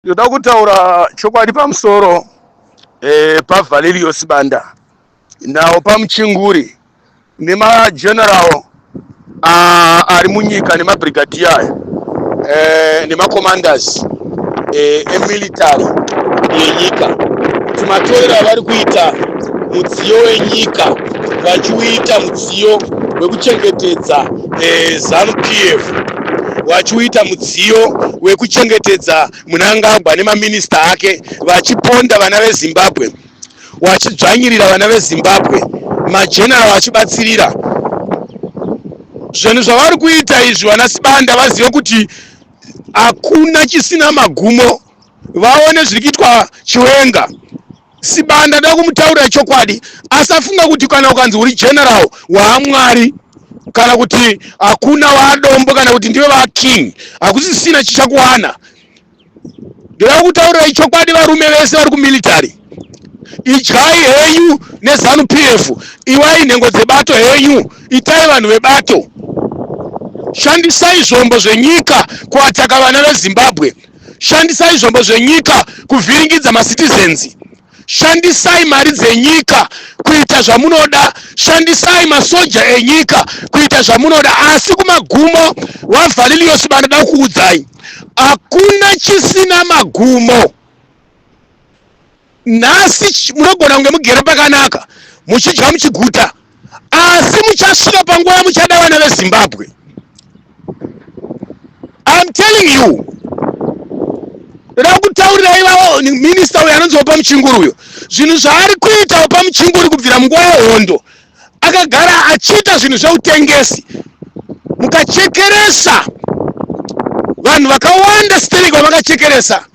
Ndoda kutaura chokwadi pamusoro eh, paValerio Sibanda nawo pamuchinguri nemageneral ah, ari munyika nemabrigadier aya eh, nemacommanders eh, emilitary yenyika kuti matorero avari kuita mudziyo wenyika vachiuita mudziyo wekuchengetedza eh, zanu pf vachiuita mudziyo wekuchengetedza munangagwa nemaminista ake vachiponda vana vezimbabwe wachidzvanyirira vana vezimbabwe majenara vachibatsirira zvinhu zvavari kuita izvi vana sibanda vazive kuti hakuna chisina magumo vaone zviri kuitwa chiwenga Sibanda ndoda kumutaurira chokwadi asafunga kuti kana ukanzi uri general waamwari kana kuti hakuna waadombo kana kuti ndiwe vaking hakusisina chichakuwana ndoda kukutaurirai chokwadi varume vese vari kumilitary idyai henyu nezanu p f iwai nhengo dzebato henyu itai vanhu vebato shandisai zvombo zvenyika kuataka vana vezimbabwe shandisai zvombo zvenyika kuvhiringidza macitizens shandisai mari dzenyika kuita zvamunoda shandisai masoja enyika kuita zvamunoda asi kumagumo wavaliliyosi vanoda kuudzai hakuna chisina magumo nhasi munogona kunge mugere pakanaka muchidya muchiguta asi muchasvika panguva yamuchada vana vezimbabwe im telling you ndoda kutaurira ivavo minista uyo anonzi opa muchinguri uyo zvinhu zvaari kuita opa muchinguri kubvira munguva yehondo akagara achiita zvinhu zveutengesi mukachekeresa vanhu vakawanda sterek vamakachekeresa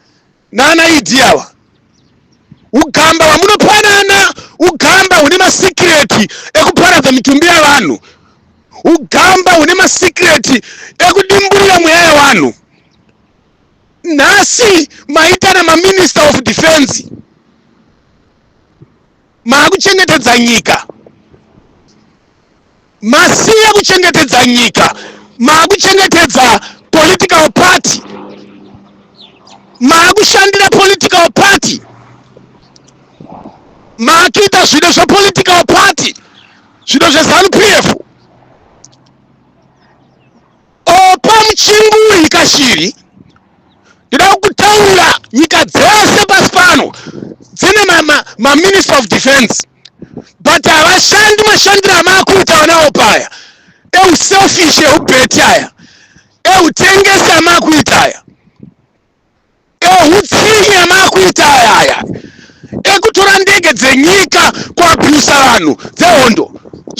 nana idi ava ugamba hwamunopanana ugamba hune masikireti ekuparadza mitumbi yavanhu ugamba hune masikireti ekudimburira mweya yavanhu nhasi maitana maminister of defense maakuchengetedza nyika masiya kuchengetedza nyika maakuchengetedza political party maakushandira political party maakuita zvido zvepolitical party zvido zvezanu p f opa muchinguri kashiri ndida kutaura nyika dzese pasi pano dzine maminister ma, ma of defense but havashandi mashandiro amaakuita vanawo paya euselfish eubeti aya eutengesi amaakuita aya ehutsinye amakuita ayaya ekutora ndege dzenyika kuabhusa vanhu dzehondo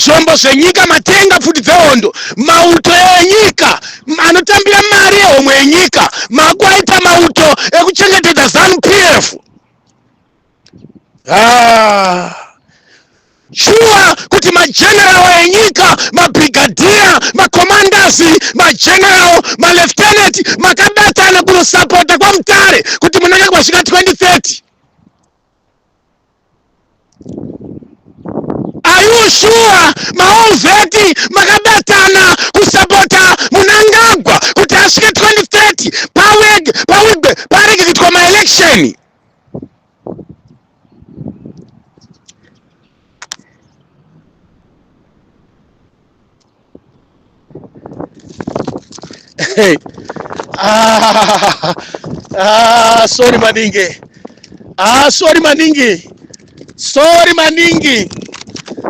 zvombo zvenyika matenga pfuti dzehondo mauto enyika anotambira mari yehomwe yenyika makuaita mauto ekuchengetedza zanu pf ah. shuwa kuti mageneral enyika mabrigadhiya makomandasi mageneral maleftenant makabatana kunosapota kwamutare kuti munenge kwasvika 2030 ayushuwa maovheti makabatana kusapota munangagwa kuti asvike 2030 pawege pawigwe paregekitwa maelection Hey. Ah, ah, sorry maningi ah, sorry maningi sorry maningi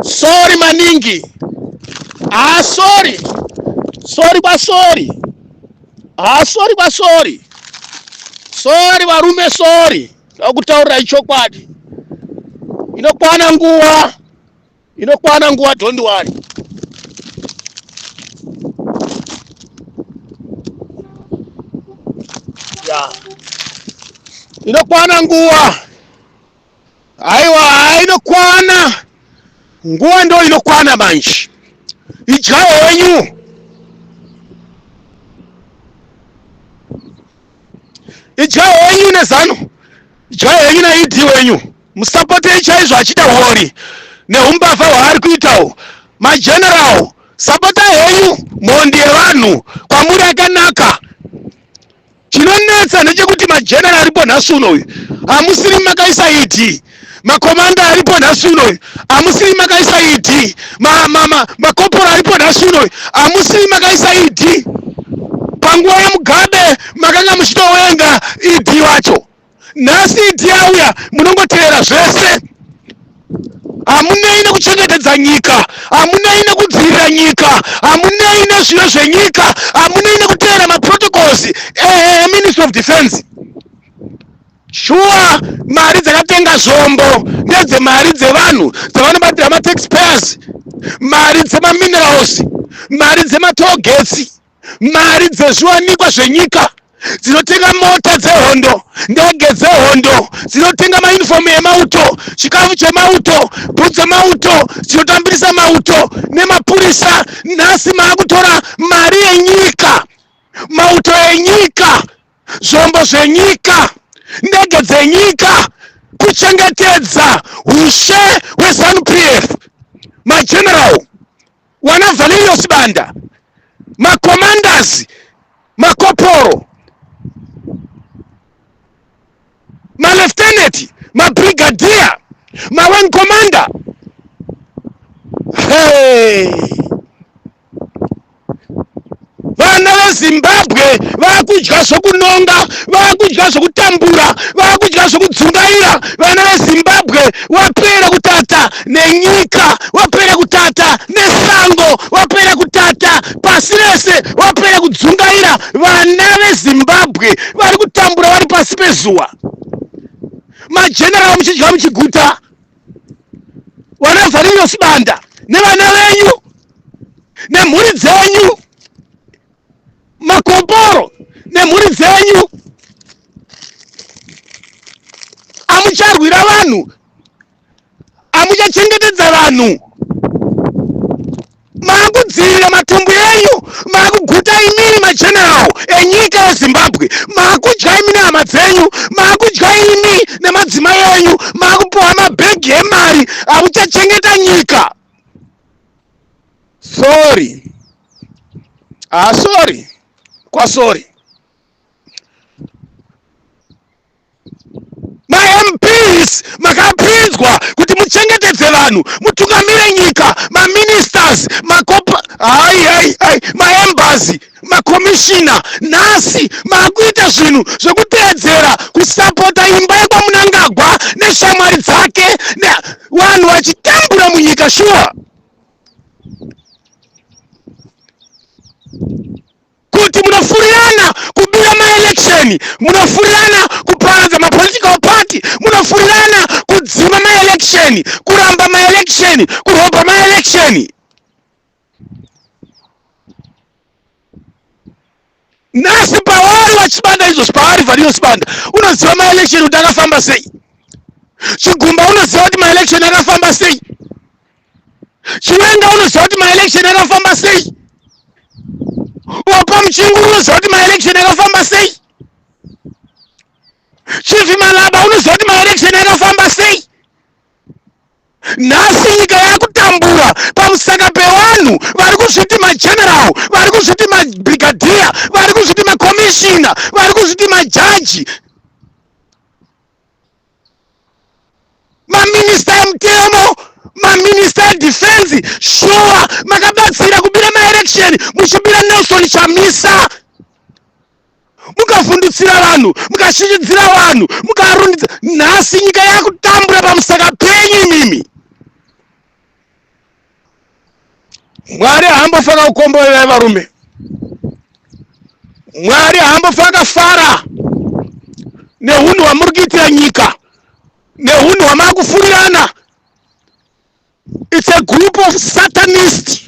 sorry maningi ah, sorry sorry kwa sorry Ah, sorry kwa sorry. Sorry varume sorry. Ndakutaurira chokwadi. Inokwana nguva. Inokwana nguva don't worry. Yeah. Inokwana nguva. Aiwa inokwana nguva ndo inokwana manje idyai henyu idyai henyu nezano idyai henyu naid wenyu musapotei chaizvo achida wori neumbavha hwaari kuitawo mageneral sapotai henyu mhondi yevanhu kwamuri akanaka Chinonetsa ndechekuti majenera aripo nhasi uno uyu hamusiri makaisa ED makomanda aripo nhasi uno uyu hamusiri makaisa ED makopora aripo nhasi uno uyu hamusiri makaisa ED panguva yemugabe makanga muchitowenga ED wacho nhasi idi yauya munongotevera zvese hamunei nekuchengetedza nyika hamunei nekudzivirira nyika hamunei nezviyo zvenyika hamunei nekuteera maprotocols eministry of defense shuwa mari dzakatenga zvombo nedzemari dzevanhu dzavanobatira mataxpayers mari dzemaminerals mari dzematogetsi mari dzezviwanikwa zvenyika dzinotenga mota dzehondo ndege dzehondo dzinotenga maunifomu emauto chikafu chemauto bhu dzemauto dzinotambirisa mauto nemapurisa nhasi maakutora mari yenyika mauto enyika zvombo zvenyika ndege dzenyika kuchengetedza ushe hwezanupf mageneral wana valerio sibanda macommanders makoporo malefteneti mabrigadier mawing commander hey. vana vezimbabwe vakudya zvokunonga vakudya zvokutambura vakudya zvokudzungaira vana vezimbabwe wapera kutata nenyika wapera kutata nesango wapera kutata pasi rese wapera kudzungaira vana vezimbabwe vari kutambura vari pasi pezuwa majeneraal muchidya muchiguta vana zvarinyo sibanda nevana venyu nemhuri dzenyu makoporo nemhuri dzenyu amucharwira vanhu amuchachengetedza vanhu maakudzivirira matumbu enyu maakuguta imini mageneral enyika yezimbabwe maakudya imi nehama dzenyu maakudya imi nemadzimai enyu maakupiwa mabhegi emari akuchachengeta nyika sorry ah sorry kwasori mamps makapinzwa kuti muchengetedze vanhu mutungamire nyika maministers makopa hai hai hai maembassy makomishina nhasi maakuita zvinhu zvekuteedzera kusapota imba yekwamunangagwa neshamwari dzake vanhu vachitambura munyika shuwa sure. kuti munofurirana kubira maelection munofurirana kuparadza mapolitical party munofurirana kudzima maelection kuramba maelection kurobha maelection nhasi pavari vachibanda izvo zvavari variyo sibanda unoziva maelection kuti akafamba sei chigumba unoziva kuti maelection akafamba sei chiwenga unoziva kuti maelection akafamba sei opa muchinguru unoziva kuti maelection akafamba sei chief malaba unoziva kuti maelection akafamba sei nhasi nyika yakutambura pamusaka pevanhu vari kuzviti mageneral vari kuzviti mabrigadier vari kuzviti macommissioner vari kuzviti majaji maminista emutemo maminista edefense shuwa makabatsira kubira maelection muchibira nelson chamisa mukavhundutsira vanhu mukashinyidzira vanhu mukarundidza nhasi nyika yakutambura pamusaka penyu imimi mwari haambofaka kukomborera varume mwari haambofaka fara neunhu hwamuri kuitira nyika neunhu hwamaakufurirana it's a group of satanist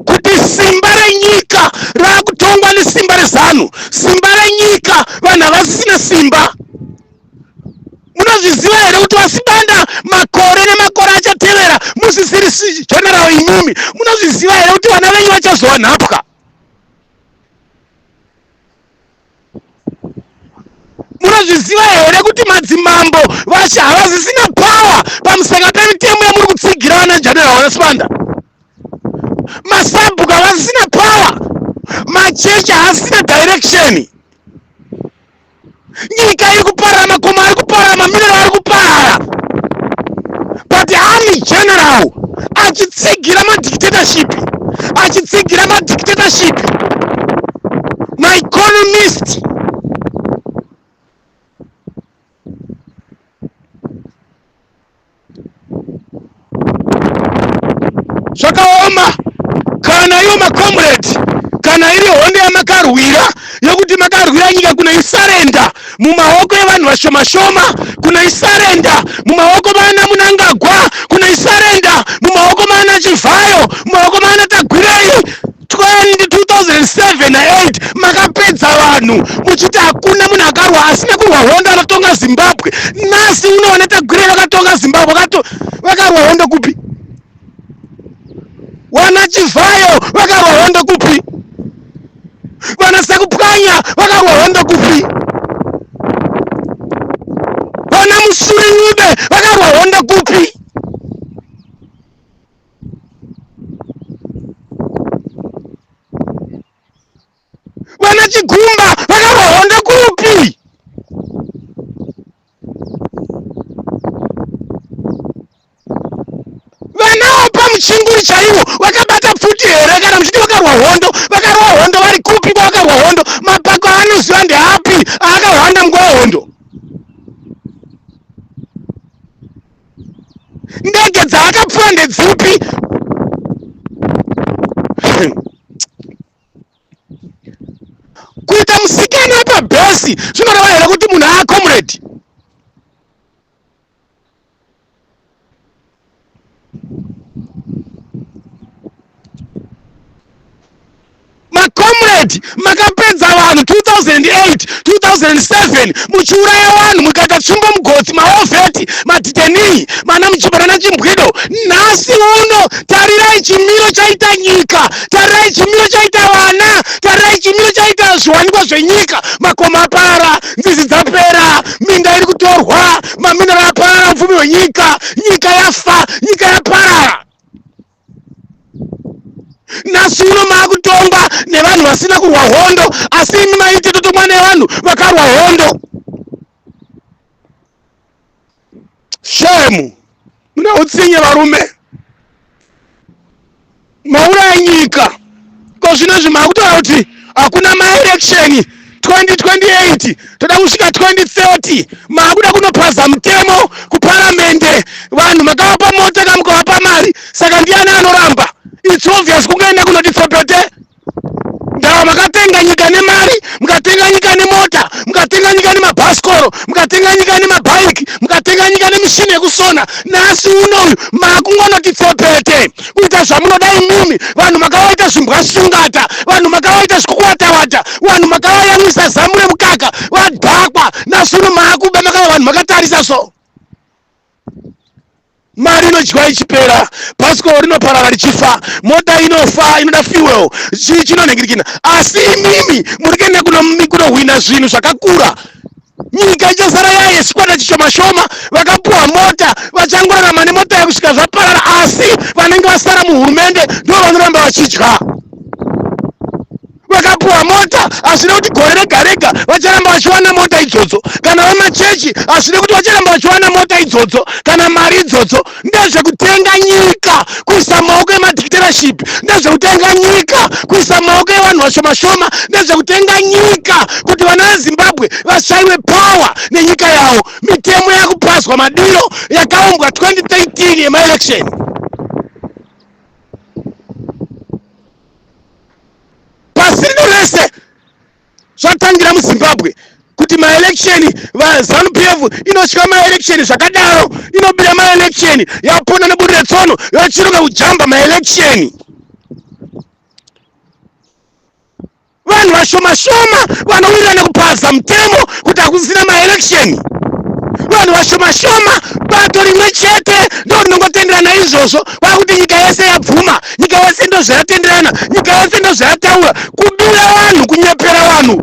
kuti simba renyika raakutongwa nesimba rezanu simba renyika vanhu havasisina simba munozviziva here kuti vasibanda makore nemakore achatevera musisiri general imimi munozviziva here kuti vana venyu vachazowanhapwa munozviziva here kuti madzimambo vashe havazisina power pamusaka pemitemo yamuri kutsigira vana janera wanasibanda masabhuku havazisina power machechi haasina direction nyika iri kuparara makomo ari kuparara mamirero ari kuparara but ani general achitsigira madictatorship achitsigira madictatorship maeconomist zvakaoma kana iwo macomrade kana iri honde yamakarwira yekuti makarwira nyika kunoisarenda mumaoko evanhu vashoma shoma kunoisarenda mumaoko maana munangagwa kunoisarenda mumaoko maana chivhayo mumaoko maana tagwirei 2007 na8 makapedza vanhu muchiti hakuna munhu akarwa asi nekurwa hondo anotonga zimbabwe nasi unoona tagwirei vakatonga zimbabwe vakarwa hondo kupi Wana Chivhayo vakarwa hondo kupi? Wana Sakupwanya vakarwa hondo kupi? Wana Musurinyude vakarwa hondo kupi? vana chigumba vakarwa hondo kupi vana opa muchinguri chaivo vakabata pfuti here kana muchiti vakarwa hondo vakarwa hondo vari kupi kwavakarwa hondo mapako aanoziva ndeapi aakahwanda munguva hondo ndege dzaakapfuwa ndedzipi kuita musikana pabhesi zvinoreva here kuti munhu aa comrade macomrade makapedza vanhu 2008 2007 muchiuraya vanhu mukaita tsvimbo mugotsi maovheti madhitenii mana muchibara nachimbwido nhasi uno tarirai chimiro chaita nyika tarai chimiro chaita vana tarai chimiro chaita zviwanikwa zvenyika makoma apara nzizi dzapera minda iri kutorwa maminero apara upfumi hwenyika nyika yafa nyika yaparara nhasi uno maakutongwa nevanhu vasina kurwa hondo asi imi maiti totomwa nevanhu vakarwa hondo shemu mune utsinye varume mauraya nyika ko zvino izvi makutaura kuti hakuna maelection 2028 toda kusvika 2030 makuda kunopaza mutemo kuparamende vanhu makavapa mota kamukovapa mari saka ndiani anoramba its obvious kungoenda kunoti tsopete ndava makatenga nyika nemari mukatenga nyika nemota mukatenga nyika nemabhasikoro mukatenga nyika nemabhaiki mukatenga nyika nemishini yekusona nhasi uno uyu makungonoti tsepete kuita zvamunoda imimi vanhu makavaita zvimbwa sungata vanhu makavaita zvikukuwatawata vanhu makavayamwisa zamu remukaka vadhakwa nhasi uno makuba makava vanhu makatarisa so mari inodyiwa ichipera bhasikoro rinoparara richifa mota inofa inoda fuel chii chinonhingirikina asi imimi muri kuenda kunohwina zvinhu zvakakura nyika ichasara yaye chikwata chishoma shoma vakapuwa mota vachangorarama nemota yekusvika zvaparara asi vanenge vasara muhurumende ndo vanoramba vachidya vakapuwa mota hazvina kuti gore rega rega vacharamba vachiwana mota idzodzo kana vemachechi hazvina kuti vacharamba vachiwana mota idzodzo kana mari idzodzo ndezvekutenga nyika kuisa maoko emadictatorship ndezvekutenga nyika kuisa maoko evanhu vashoma shoma ndezvekutenga nyika kuti vana vezimbabwe vashaiwe power nenyika yavo mitemo yakupazwa madiro yakaumbwa 2013 yemaelection pasi rino rese zvatangira muzimbabwe kuti maelection vazanu p f inotya maelection zvakadaro inobira maelection yapona neburi retsono yochiruka kujamba maelection vanhu vashoma shoma vanowirirana kupaza mutemo kuti hakusina maelection vanhu vashoma shoma bato rimwe chete ndo rinongotenderana izvozvo kwakuti nyika yese yabvuma nyika yese ndozvayatenderana nyika yese ndozvayataura kudura vanhu kunyepera vanhu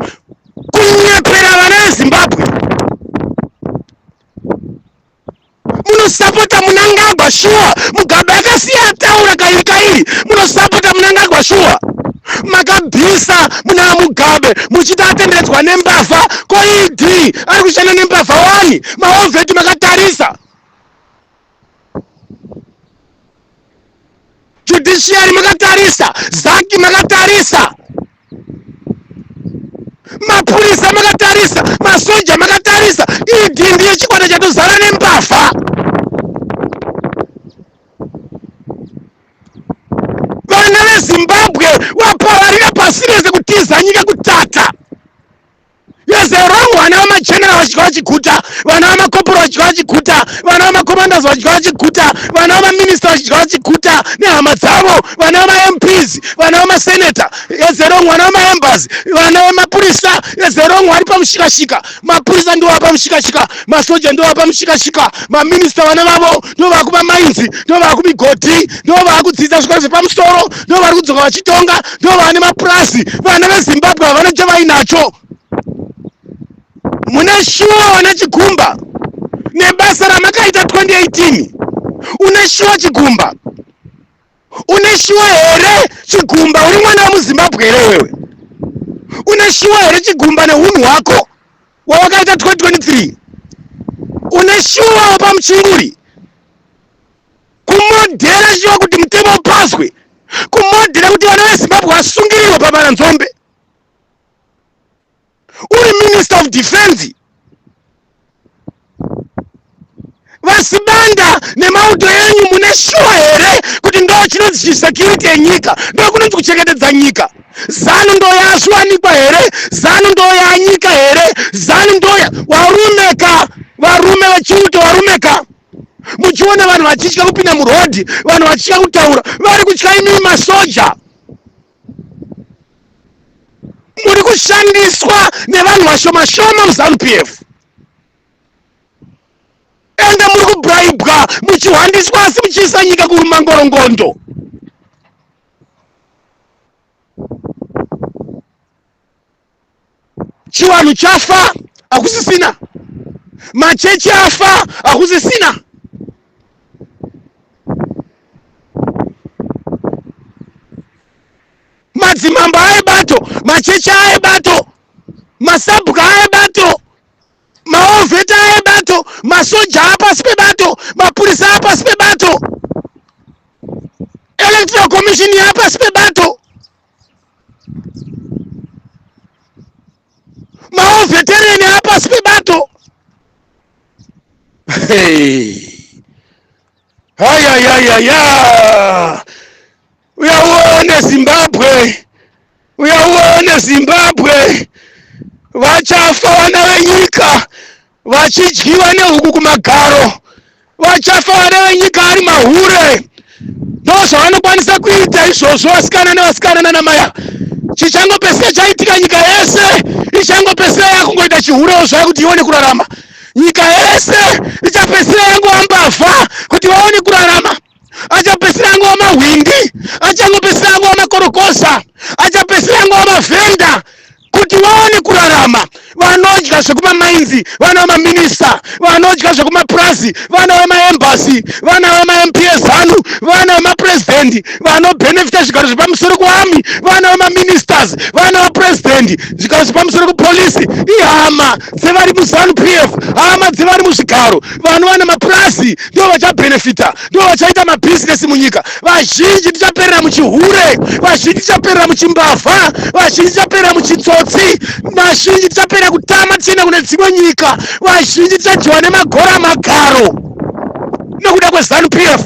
kunyepera vana vezimbabwe munosapota munangagwa shuwa mugabe akasiya ataura kairi kairi munosapota munangagwa shuwa makabvisa muna mugabe muchiti atenderedzwa nembavha koid ari kushanda nembavha wani maovheti makatarisa judiciary makatarisa zaki makatarisa mapurisa makatarisa masoja makatarisa ed ndiye chikwata chatozara nembavha vana vezimbabwe vapararira pasi rese kutiza nyika kutata Yes, they're wrong. Vana vamachena vachidya vachiguta, vana vamakoporo vachidya vachiguta, vana vamacommanders vachidya vachiguta, vana vamaminista vachidya vachiguta nehama dzavo, vana vamaMPs, vana vamaseneta, yes, they're wrong. Vana vamaembers, vana vamapurisa, yes, they're wrong. Vari pamushikashika, mapurisa ndiwo apamushikashika, masoja ndiwo apamushikashika, maminista vana vavo ndovava kumamainzi ndovava kumigodhi ndovava kudzidza zvikoro zvepamusoro ndovari kudzoka vachitonga ndovava nemapurazi vana vezimbabwe havana chavainacho mune shuwa vana chigumba nebasa ramakaita 2018 une shuwa chigumba une shuwa here chigumba uri mwana wemuzimbabwe here wewe une shuwa here chigumba neunhu hwako wawakaita 2023 une shuwa wepamuchinguri kumodhera shuwa kuti mutemo upaswe kumodhera kuti vana vezimbabwe vasungirirwe pamana nzombe uri minister of defense vasibanda nemauto enyu mune shuwa here kuti ndo chinonzi chisecurity yenyika ndo kunonzi kuchengetedza nyika zanu ndo yazviwanikwa here zanu ndo yanyika here zanu ndo varume ka varume vechiuto varume ka muchiona vanhu vachitya kupinda murodhi vanhu vachitya kutaura vari kutya imii masoja muri kushandiswa nevanhu vashoma shoma muzanu p f ende muri kubraibwa muchihwandiswa asi muchiisa nyika kurumangorongondo chivanhu chafa hakusisina machechi afa hakusisina madzimambo aebato machechi aebato masabhuka aebato maovheta aebato masoja apasi pebato mapurisa apasi pebato electoral commission yapasi pebato maovhetereni apasi pebato hayayayaya uyauone zimbabwe uyauone zimbabwe vachafa vana venyika vachidyiwa nehuku kumagaro vachafa vana venyika ari mahure ndozvavanokwanisa kuita izvozvo vasikana nevasikana nanamaya chichangopesika chaitika nyika yese ichangopesika yakungoita chihurewo zvaya kuti ione kurarama nyika yese ichapesika yangoambavha kuti vaone kurarama achapedzisira angova mahwindi achangopedzisira angova makorokosa achapedzisira angova mavhenda kuti vaone kurarama vanodya zvekumamainzi vana vemaminista vanodya zvekumapurazi vana vemaembasi vana vemamps anu vana vemapurezidhendi vanobhenefita zvigaro zvepamusoro kuami vana vemaministers vana vapurezidhendi zvigaro zvepamusoro kupolisi ihama dzevari muzanu pf hama dzevari muzvigaro vanhu vane mapurazi ndivo vachabhenefita ndivo vachaita mabhizinesi munyika vazhinji tichaperera muchihure vazhinji tichaperera muchimbavha vazhinji tichaperera muchitsotsi vazhinji tichaperera kutama tichienda kune dzimwe nyika vazhinji tichadyiwa nemagora magaro nokuda kwezanu pf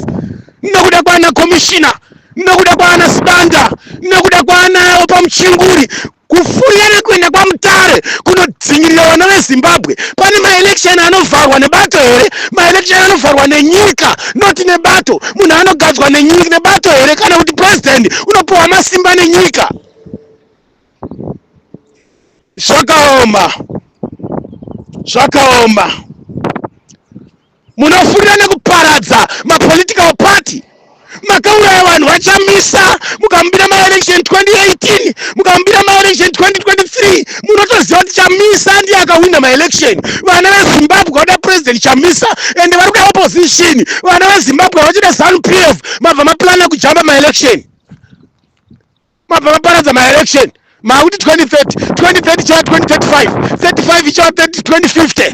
nokuda kwana komishina nokuda kwaana sibanda nokuda kwaanawo pamuchinguri Kufurira nekuenda kwaMutare kunodzingirira vana veZimbabwe pane maelection anovharwa nebato here? Maelection anovharwa nenyika not nebato. Munhu anogadzwa nenyika nebato here kana kuti president unopiwa masimba nenyika? Zvakaoma, zvakaoma. munofurira nekuparadza mapolitical party makauraya vanhu vachamisa mukamubira maelection 2018 mukamubira maelection 2023 munotoziva kuti chamisa ndiye akahwina maelection vana vezimbabwe vada president chamisa ende vari kuda opposition vana vezimbabwe vachida zanu p f mabva maplana kujamba maelection mabva maparadza maelection makuti 2030 2030 chava 2035 35 ichava 2050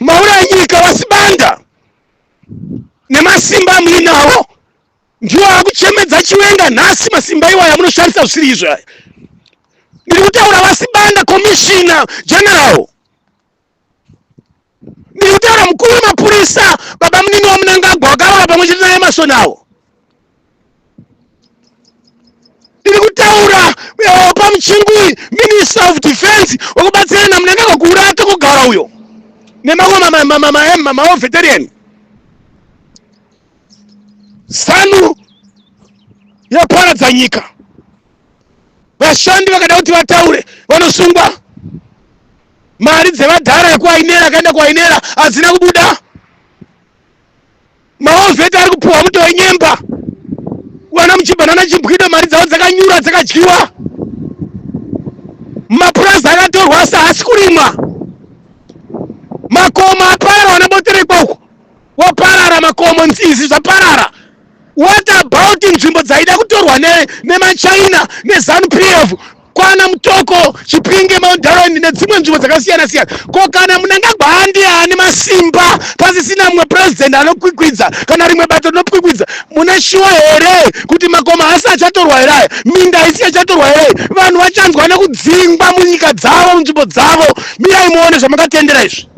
Maura nyika vasibanda nemasimba muinawo ndiwo akuchemedza chiwenga nhasi masimba iwayo amunoshandisa zvisiri izvo aya ndiri kutaura vasibanda commissioner general ndiri kutaura mukuru wemapurisa baba munini wamunangagwa wakaroora pamwe chete naye masoni awo ndiri kutaura eh, pamuchingwi minister of defense wekubatsirana munangagwa kuurata kugara uyo nemamwe veterian zanu yaparadza nyika vashandi vakada kuti vataure vanosungwa mari dzevadhara yekuainera akaenda kuainera hadzina kubuda maovheti ari kupuhwa muto wenyemba kuwana muchibva nana chimbwido mari dzavo dzakanyura dzakadyiwa mapurazi akatorwa asi haasi kurimwa makomo aparara wana boterekwa uko waparara makomo nzizi zvaparara what about nzvimbo dzaida kutorwa nemachina ne, ne nezanu p f kwana mutoko chipinge maundaroni nedzimwe nzvimbo dzakasiyana siyana ko kana munangagwa handi haani masimba pasisina mumwe purezidenti anokwikwidza kana rimwe bato rinokwikwidza mune shuwa here kuti makoma hasi achatorwa here aya minda haisi yachatorwa here vanhu vachanzwa nekudzingwa munyika dzavo munzvimbo dzavo mirai muone zvamakatendera izvi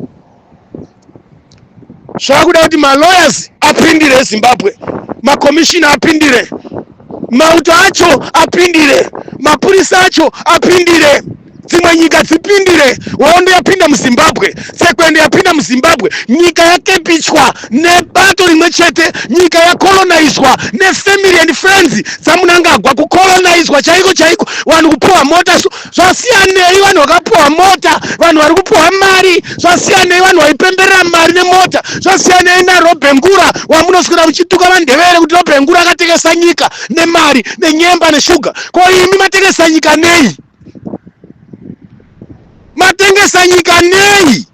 zvakuda kuti malawyers apindire ezimbabwe makomishina apindire mauto acho apindire mapurisa acho apindire dzimwe nyika dzipindire hondo yapinda muzimbabwe tsekwende yapinda muzimbabwe nyika yakepichwa nebato rimwe chete nyika yakolonaizwa nefamily and friends dzamunangagwa kukolonaizwa chaiko chaiko vanhu kupuwa mota so zvasiyanei vanhu vakapiwa mota vanhu vari kupiwa mari zvasiyanei vanhu vaipemberera mari nemota zvasiyanei narobhengura wamunoswira muchituka vandevere kuti robhengura akatengesa nyika nemari nenyemba neshuga ko imi matengesa nyika nei matengesa nyika nei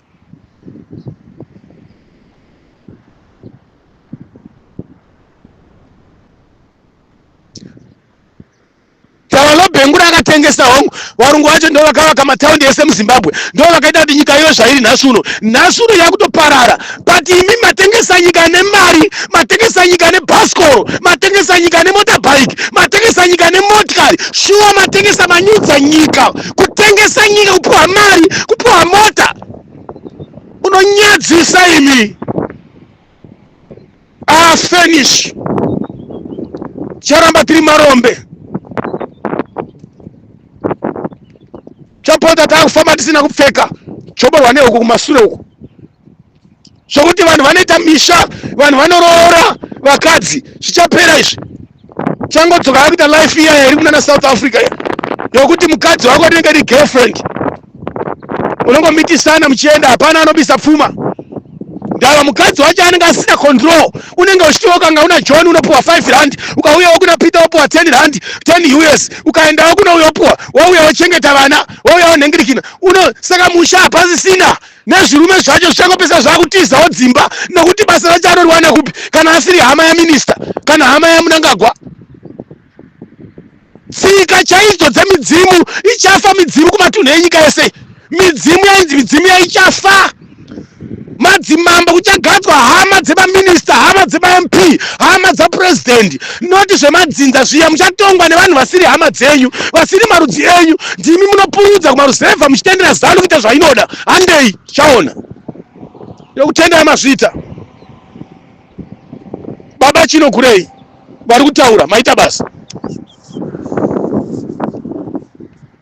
tavanobhengura akatengesa hongu varungu vacho ndo vakavaka mataundi ese muzimbabwe ndo vakaita kuti nyika iyo zvairi nhasi uno nhasi uno yakutoparara but imi matengesa nyika nemari matengesa nyika nebhasikoro matengesa nyika nemotabike matengesa nyika nemotikari shuwa matengesa manyudza nyika kutengesa nyika kupiwa mari kupiwa mota unonyadzisa imi ah finish charamba tiri marombe chapota takufamba tisina kupfeka choborwa neuku kumasure uku zvokuti vanhu vanoita misha vanhu vanoroora vakadzi zvichapera izvi changodzoka yakuita life iya yairi kunana south africa iya yokuti mukadzi wako rinenge ri girlfriend unongomitisana muchienda hapana anobisa pfuma ndava mukadzi wacho anenge asina control unenge uchitiwo kanga una john unopiwa 5 rand ukauyawo kuna peter wopiwa 10 rand 10 us ukaendawo kunouya opiwa wauya wochengeta vana wauya wonhengirikina uno saka musha hapasisina nezvirume zvacho zvichangopesa zvakutizawo dzimba nokuti basa racho anoriwana kupi kana asiri hama yaminista kana hama yamunangagwa tsika chaidzo dzemidzimu ichafa midzimu kumatunhu enyika yese midzimu yainzi midzimu yaichafa madzimambo kuchagadzwa hama dzemaminista hama dzemamp hama dzapurezidendi not zvemadzinza zviya muchatongwa nevanhu vasiri hama dzenyu vasiri marudzi enyu ndimi munopurudza kumaruzevha muchitendera zanu kuita zvainoda handei chaona yokutenda yamazvita baba chino kurei vari kutaura maita basa